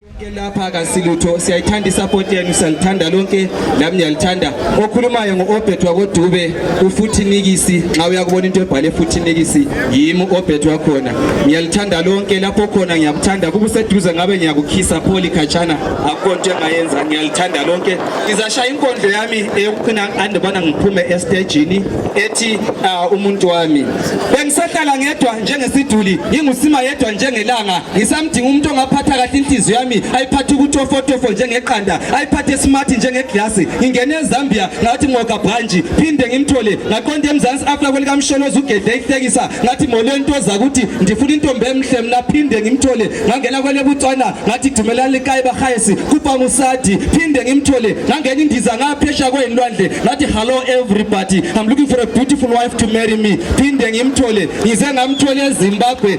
Ke lapha kasilutho siyayithanda isupport yenu salithanda lonke nami ngiyalithanda okhulumayo ngoobet wakodube ufuthi nikisi nxa uyakubona into ebhale futhi nikisi yimi uobet wakhona ngiyalithanda lonke lapho khona ngiyakuthanda kuba useduze ngabe ngiyakukhisa pholi khatshana akukho nto engayenza ngiyalithanda lonke ngizashaya inkondlo yami eyokuqina andibona ngiphume estejini ethi uh, umuntu wami bengisahlala ngedwa njengesiduli ngingusima yedwa njengelanga Udinga umuntu ongaphatha kahle inhliziyo yami ayiphathe ukutofotofo njengeqanda ayiphathe smart njengeglasi ngingene ezambia ngathi ngoga branji phinde ngimthole ngaqonda emzansi afla kwelikamsholozi ugedle ihlekisa ngathi molweni ntoza ukuthi ndifuna intombi emhle mna phinde ngimthole ngangena kwelebutswana ngathi dumelani likayi bahayesi kupanusadi phinde ngimthole ngangena indiza ngaphesha kweyinlwandle ngathi hello everybody i'm looking for a beautiful wife to marry me phinde ngimthole ngize ngamthole ezimbabwe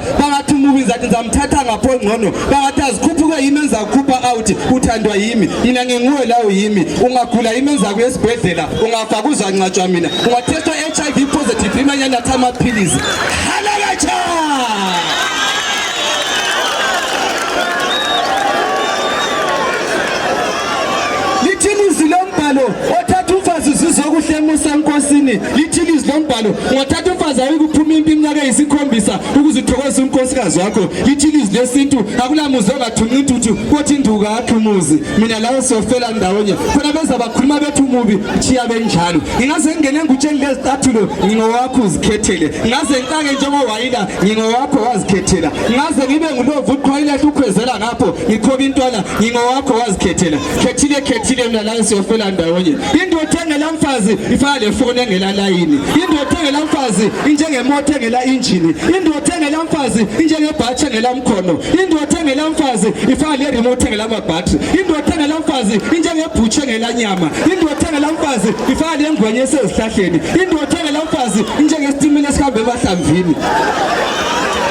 bangathi umubi ngizathi ngizamthatha ngapho ngcono bangathi azikhuphuke yimi engizakukhupha out uthandwa yimi yina nginguwe lawo yimi ungagula yimi engizakuya esibhedlela ungafa kuzancatshwa mina ungathethwa i-h i v positive imanyana athi amaphilisi halakatsha lithini izwi lombhalo othatha umfazi uzizwa okuhle emusa enkosini lithini izwi lombhalo ungathatha umfazi awuyikuphuma impi iminyaka eyisikhombisa ukuze uthokoze unkosikazi wakho lithini izwi lesintu akulamuzi ongathunqa intuthu kothi induka akhe umuzi mina lawo siyofela ndawonye khona beza bakhuluma bethu umubi chiya benjalo ngingaze ngingene ngutsheni lezicathulo ngingowakho uzikhethele ngaze ngicake njengowayila ngingowakho wazikhethela ngaze ngibe ngulovu uqhwayila hlukhwezela lapho ngikhoba intwana ngingowakho wazikhethela khethile khethile mna la siyofela ndawonye indoda engela mfazi ifana lefoni engela layini indoda engela mfazi injengemoto engela injini indoda engela mfazi injengebhathi engela mkhono indoda engela mfazi ifana le remote engela mabhatri indoda engela mfazi injengebhutshe engela nyama indoda engela mfazi ifana le ngwenya esezihlahleni indoda engela mfazi injengesitimela esihambe emahlamvini